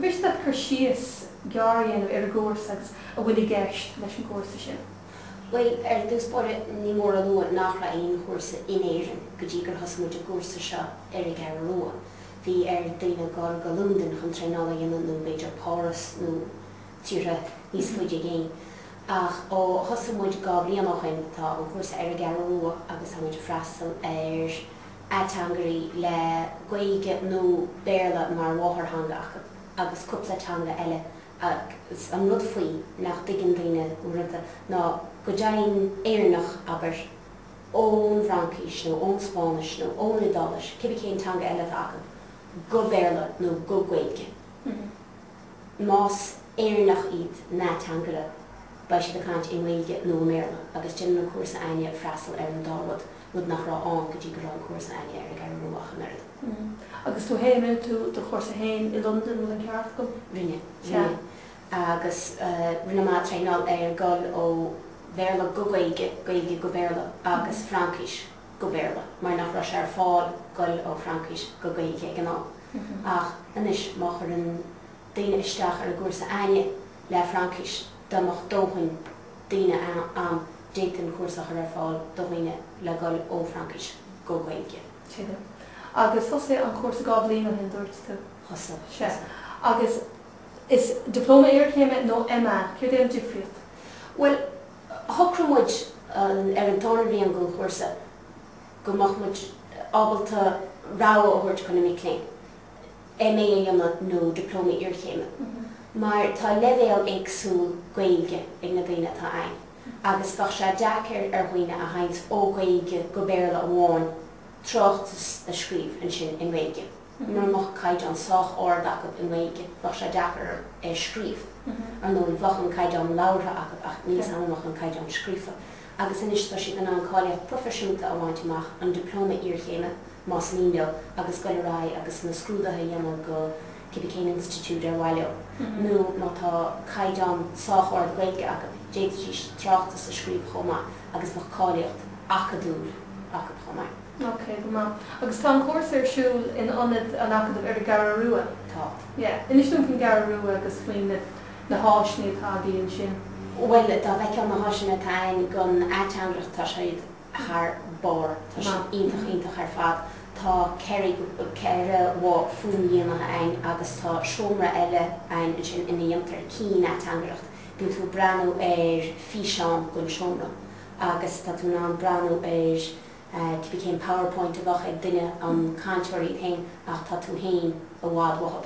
bhféadfá cur síos gearr a dhéanamh ar an gcúrsa agus a bhfuil i gceist leis an gcúrsa sin? Bhuel, ar dtús báire, ní mór a lua nach raibh aon chúrsa in Éirinn go dtí gur thosaigh muid an cúrsa seo ar an gCeathrú Rua. Bhí ar dhaoine dul go Londain chun traenáil a dhéanamh nó b'fhéidir Páras nó. tíortha níos faide i gcéin. Ach ó thosaigh muid dhá bhliain ó shin, tá an cúrsa ar an gCeathrú Rua agus tá muid ag freastal ar ateangairí le Gaeilge nó Béarla mar mháthairtheanga acu agus cúpla teanga eile agus an rud faoi nach dtuigeann daoine uaireanta ná go dtéann Éireannach, abair, ón bhFraincis nó ón Spáinnis nó ón Iodáilis, cibé cén teanga eile atá acu, go Béarla nó go Gaeilge. más Éireannach iad na ateangairí, beidh siad ag caint i nGaeilge nó i mBéarla agus déanann an cúrsa againne freastal ar an dá rud, rud nach raibh ann go dtí go raibh an cúrsa againne ar an gCeathrú Rua ach an oiread. Agus tú fhéin, rinne tú do chúrsa fhéin i Londain, an ceart agam? Rinne, rinne. Agus rinne mé traenáil ar dhul ó Bhéarla go Gaeilge, Gaeilge go Béarla agus Fraincis go Béarla mar nach raibh sé ar fáil dhul ó Fhraincis go Gaeilge ag an am. Ach anois, má chuireann daoine isteach ar an gcúrsa againne le Fraincis, dá mbeadh dóthain daoine ann, d'fhéadfaí an cúrsa a chur ar fáil do dhaoine le dhul ó Fhraincis go Gaeilge. Tuigim. Agus thosaigh an cúrsa dhá bhliain ó shin, dúirt tú? Thosaigh, thosaigh. Agus is Dioplóma Iarchéime nó MA, céard é an difríocht? Bhuel, shocraigh muid ar an tarna bhliain den chúrsa go mbeadh muid ábalta rogha a thabhairt do na mic léinn MA a dhéanamh nó Dioplóma Iarchéime mar tá leibhéal éagsúil Gaeilge ag na daoine atá ann agus bheadh sé deacair ar dhaoine a théann ó Ghaeilge go Béarla amháin tráchtas a scríobh ansin i nGaeilge. Mura mbeadh caighdeán sách ard acu i nGaeilge bheadh sé deacair é a scríobh. Ar ndóigh, bheadh an caighdeán labhartha acu ach níl 's agam an mbeadh an caighdeán scríofa. agus anois tá siad in ann cáilíocht proifisiúnta a bhaint amach, an Dioplóma Iarchéime, más mian leo, agus dul ar aghaidh agus na scrúduithe a dhéanamh go cibé cén institiúid ar mhaith leo, nó má tá caighdeán sách ard Gaeilge acu, d'fhéadfaidís tráchtas a scríobh chomh maith agus bheadh cáilíocht acadúil acu chomh maith. Ok, go maith. Agus tá an cúrsa ar siúl in ionad an Acadaimh ar an gCeathrú Rua? Tá. Yeah. Inis dom faoin gCeathrú Rua agus faoin. na háiseanna atá againn ansin. Bhuel, dá bhfeicfeá na háiseanna atá againn don ateangaireacht, tá siad thar barr, tá siad iontach iontach ar fad. Tá ceithre, ceithre bhoth fhuaimdhíonaithe againn agus tá seomra eile againn ansin ina dhéantar cian-ateangaireacht, bíonn tú ag breathnú ar físeán den seomra agus tá tú in ann breathnú ar cibé cén powerpoint a bheadh ag duine, an cainteoir é féin ach tá tú féin i bhfad uathub.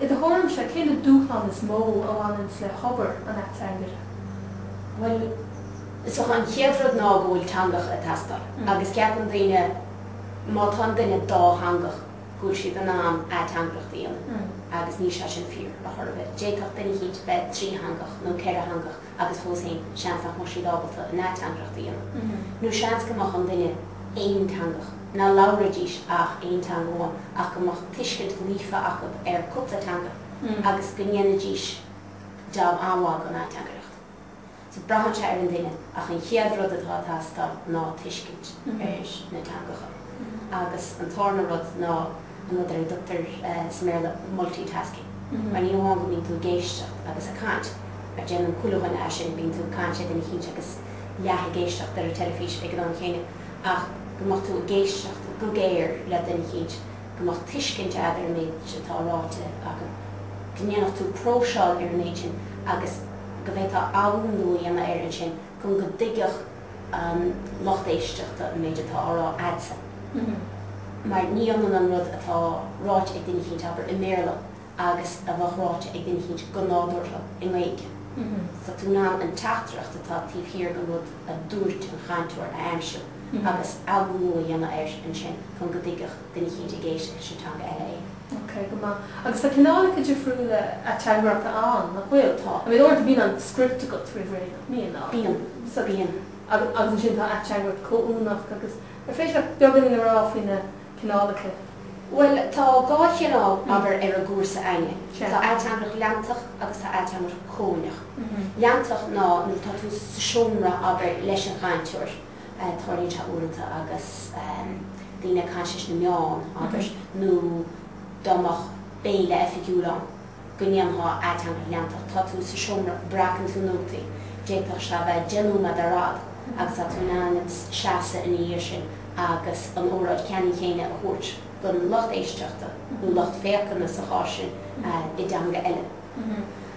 I do thuairimse, cé hiad na dúshláin is mó a bhaineanns le hobair an ateangaire? Bhuel, is dócha, an chéad rud ná go bhfuil teangacha ag teastáil agus ceapann daoine má tá an duine dátheangach go bhfuil siad in ann ateangaireacht a dhéanamh agus níl sé sin fíor, a chor ar bith. D'fhéadfadh duine eicínt bheith trítheangach nó ceithretheangach. agus fós féin, seans nach mbeadh siad ábalta an ateangaireacht a dhéanamh, nó seans go mbeadh duine aonteangach, nach labhraídís ach aon teanga amháin ach go mbeadh tuiscint líofa acu ar cúpla teanga agus go ndéanfaidís jab an-mhaith den ateangaireacht. So braitheann sé ar an duine ach an chéad rud atá ag teastáil ná tuiscint ar na teangacha agus an tarna rud ná, an rud ar a dtugtar sa mBéarla multitasking, mar ní hamháin go mbíonn tú ag éisteacht agus ag caint, mar déanann chuile dhuine é sin, bíonn tú ag caint le duine eicínt agus leath ag éisteacht leis an teilifís ag an am céanna, ach go mbeadh tú ag éisteacht go géar le duine eicínt, go mbeadh tuiscint a'd ar an méid atá ráite acu, go ndéanfadh tú próiseáil ar an méid sin agus go bhféadfá athnuachan a dhéanamh air ansin chun go dtuigfeadh an lucht éisteachta an méid atá á rá a'dsa mar ní ionann an rud atá ráite ag duine eicínt, abair, i mBéarla agus a bheadh ráite ag duine eicínt go nádúrtha i nGaeilge. Tá tú in ann an teachtaireacht atá taobh thiar den rud a dúirt an cainteoir a aimsiú agus athnuachan a dhéanamh air ansin chun go dtuigfeadh duine eicínt ag éisteacht sa teanga eile é. Ok, go maith. Agus tá cineálacha difriúla ateangaireachta ann, nach bhfuil? Tá. I mean, uaireanta bíonn an script agat roimh ré. Bíonn. So bíonn. Agus ansin tá ateangaireacht chomhuaineach agus an féidir leat beagáinín a rá faoi na cineálacha? Bhuel, tá dhá chineál, abair, ar an gcúrsa a'inne. Tá ateangaireacht leantach agus tá ateangaireacht chomhuaineach. Leantach ná nuair atá tú sa seomra, abair, leis an gcainteoir, tarlaíonn sé uaireanta agus daoine ag caint leis na meáin, abair, nó dá mbeadh béile oifigiúil ann. go ndéanfá ateangaireacht leantach. Tá tú sa seomra, breacann tú nótaí, d'fhéadfadh sé a bheith deich nóiméad ar fhad, agus tá tú in ann seasamh ina dhiaidh sin agus an óráid cheannann chéanna a thabhairt don lucht éisteachta, nó lucht féachana sa chás sin, i dteanga eile.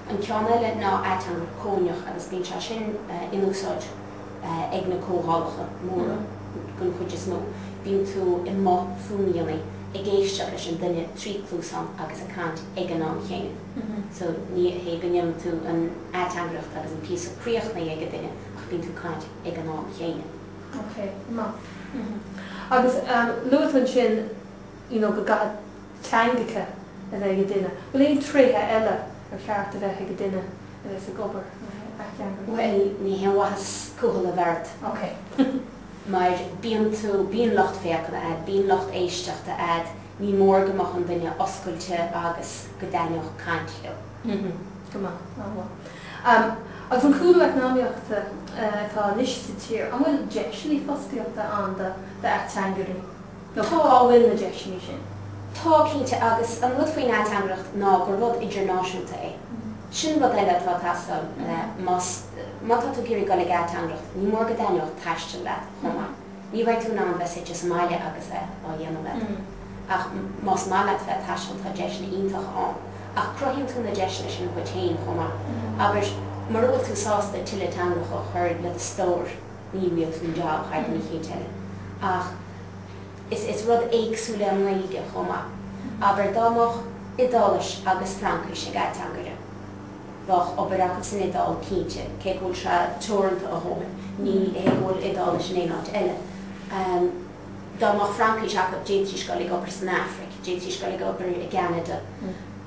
An ceann eile ná ateangaireacht chomhuaineach agus bíonn sé sin in úsáid, ag na comhdhálacha móra den chuid is mó, bíonn tú i mboth fuaimdhíonaithe ag éisteacht leis an duine trí chluasán agus ag caint ag an am chéanna. So ní hé go ndéanann tú an ateangaireacht agus an píosa críochnaithe ag an duine ach bíonn tú ag caint ag an am chéanna. Okay, maith. Agus luaitear ansin. you know go gcaithfidh teangacha a bheith ag an duine, bhfuil aon tréithe eile ar cheart a bheith ag an duine a bheas ag obair mar ateangaire? Bhuel, ní haon mhaitheas cúthail a bheith ort, okay mar bíonn tú, bíonn lucht féachana a'd, bíonn lucht éisteachta a'd, ní mór go mbeadh an duine oscailte agus go dtaitneodh caint leo. Mhm, go maith, ah well. Am, agus an cúlú eacnamaíochta atá anois sa tír, an bhfuil deiseannaí fostaíochta ann do ateangairí? Nó cá bhfuil na deiseanna sin? Tá, cinnte, agus an rud faoin ateangaireacht ná gur rud idirnáisiúnta é. Sin rud eile atá ag teastáil más má tá tú ag iarraidh dul ag ateangaireacht, ní mór go dtaitneodh taisteal leat chomh maith. Ní bheidh tú in ann bheith suite sa mbaile agus é á dhéanamh leat. Ach más maith leat bheith ag taisteal tá deiseanna iontacha ann. Ach cruthaíonn tú na deiseanna sin dhuit féin chomh maith, abair, mura bhfuil tú sásta tuilleadh teangacha a chur le do stór. Ní bhfaighidh tú an jab thar an chéad duine eile ach is rud éagsúil é an Ghaeilge chomh maith. Abair dá mbeadh Iodáilis agus Fraincis ag ateangaire. Bheadh obair acu san Iodáil, cinnte, cé go bhfuil sé teoranta a dhóthain. Ní hé go bhfuil Iodáilis in aon áit eile. Dá mbeadh Fraincis acu, d'fhéadfaidís a dhul ag obair san Afraic, d'fhéadfaidís a dhul ag obair i gCeanada.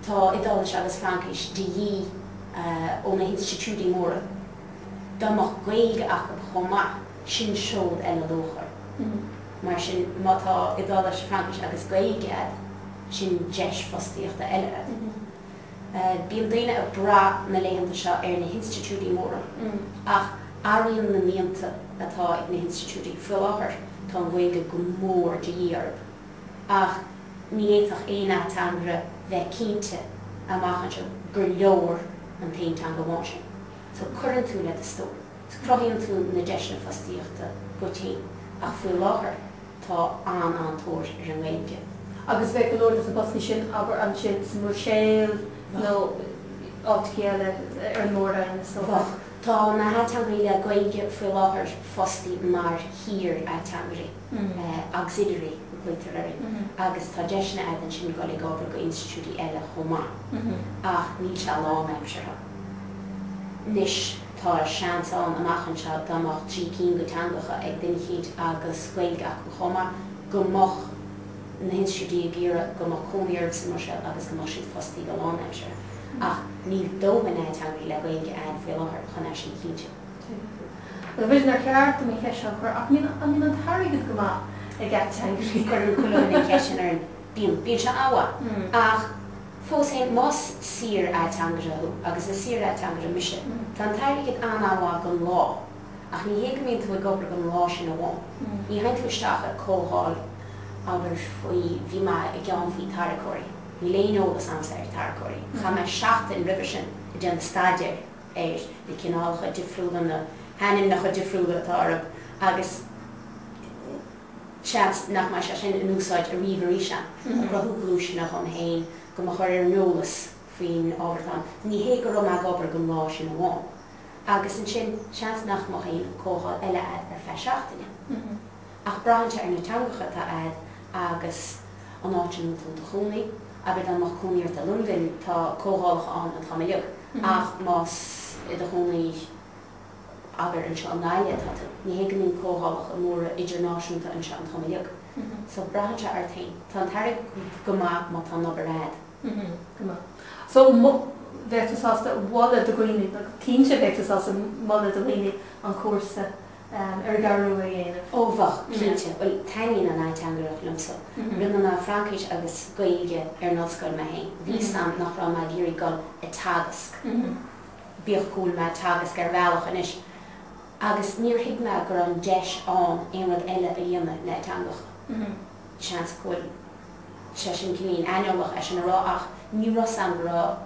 Tá Iodáilis agus Fraincis de dhíth ó na hinstitiúidí móra. dá mbeadh Gaeilge acu chomh maith, sin seod eile luachmhar. Mar sin, má tá Iodáilis, Fraincis agus Gaeilge agat, sin deis fostaíochta eile agat. Bíonn daoine ag brath na laethanta seo ar na hinstitiúidí móra, ach athraíonn na mianta atá ag na hinstitiúidí. Faoi láthair, tá an Ghaeilge go mór de dhíth orthu. ach ní fhéadfadh aon ateangaire bheith cinnte amach anseo gur leor an t-aon teanga amháin sin. So cuireann tú le do stór, cruthaíonn tú na deiseanna fostaíochta dhuit fhéin, ach faoi láthair tá an-an-tóir ar an nGaeilge. Agus bheadh go leor de na postanna sin, abair, ansin sa mBruiséil nó áiteachaí eile ar an Mór-Roinn, is dócha? Bheadh. Tá na hateangairí le Gaeilge faoi láthair fostaí mar shaor-ateangairí. auxiliary a ghlaoitear air agus tá deiseanna agat ansin dul ag obair go institiúidí eile chomh maith ach níl sé lánaimseartha. Anois tá seans ann amach anseo dá mbeadh trí cinn go teangacha ag duine eicínt agus Gaeilge acu chomh maith go mbeadh na hinstitiúidí ag iarraidh go mbeadh cónaí orthu sa mBruiséil agus go mbeadh siad fostaí go lánaimseartha ach níl dóthain ateangairí le Gaeilge ann faoi láthair chun é sin a chinntiú. Níl a fhios a'm an ceart dom an cheist seo a chur? Ach an mbíonn an t-airgead go maith ag ateangairí? Cuireann chuile dhuine an cheist sin orainn. Bíonn. Bíonn sé an-mhaith. Ach fós féin, más saor-ateangaire thú, agus is saor-ateangaire mise, tá an t-airgead an-mhaith don lá. Ach ní hé go mbíonn tú ag obair don lá sin amháin. Ní théann tú isteach ar comhdháil, abair, faoi bhí mé i gceann faoi tarracóirí. Níl aon eolas a'msa ar tarracóirí. Chaith mé seachtain roimhe sin ag déanamh staidéir. air, na cineálacha difriúla, na hainmneacha difriúla atá orthu agus seans nach mbeidh sé sin in úsáid ariamh aríst, a chruthú gluaiseanna dhom féin go mo chur ar an eolas faoin ábhar atá ann. Ní hé go raibh mé ag obair don lá sin amháin agus ansin seans nach mbeadh aon comhdháil eile a'd ar feadh seachtaine. Ach braitheann sé ar na teangacha atá a'd agus an áit a mbíonn tú in do chónaí. Abair dá mbeadh cónaí ort i Londain, tá comhdhálacha ann an t-am uilig, ach más i do chónaí, abair anseo i nGaillimh atá tú, ní hé go mbíonn comhdhálacha móra idirnáisiúnta anseo an t-am uilig. So braitheann sé ort féin. Tá an t-airgead go maith má tá an obair a'd. Go maith. So bheadh tú sásta a mholadh do dhaoine, cinnte bheadh tú sásta a mholadh do dhaoine an cúrsa. ar an gCeathrú Rua a dhéanamh. Ó bheadh, cinnte. Bhuel, taitníonn an ateangaireacht liomsa. Rinne mé Fraincis agus Gaeilge ar an ollscoil mé féin. Bhí a fhios a'm nach raibh mé ag iarraidh dul ag teagasc, bíodh go bhfuil mé ag teagasc ar bhealach anois, agus níor thuig mé go raibh an deis ann aon rud eile a dhéanamh le teangacha. Seans go bhfuil sé sin cineáilín aineolach é sin a rá ach ní raibh a fhios a'm go raibh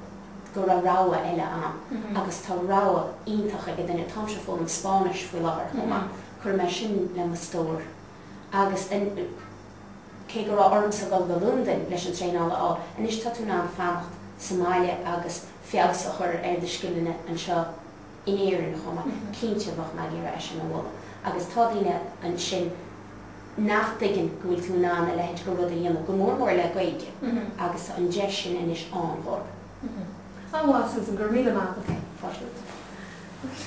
go raibh rogha eile ann agus tá rogha iontach ag an duine. Tá mise ag foghlaim Spáinnis faoi láthair chomh maith. Cuirfidh mé sin le mo stór agus cé go raibh ormsa dhul go Londain leis an traenáil a fháil, anois tá tú in ann fanacht sa mbaile agus feabhas a chur ar do scileanna anseo. in Éirinn chomh maith, cinnte bheadh mé ag iarraidh é sin a mholadh agus tá daoine ansin nach dtuigeann go bhfuil tú in ann a leithéid de rud a dhéanamh, go mór mór le Gaeilge, agus tá an deis sin anois ann dhóibh. An-mhaith, Susan, go raibh míle maith agat. Fáilte romhat.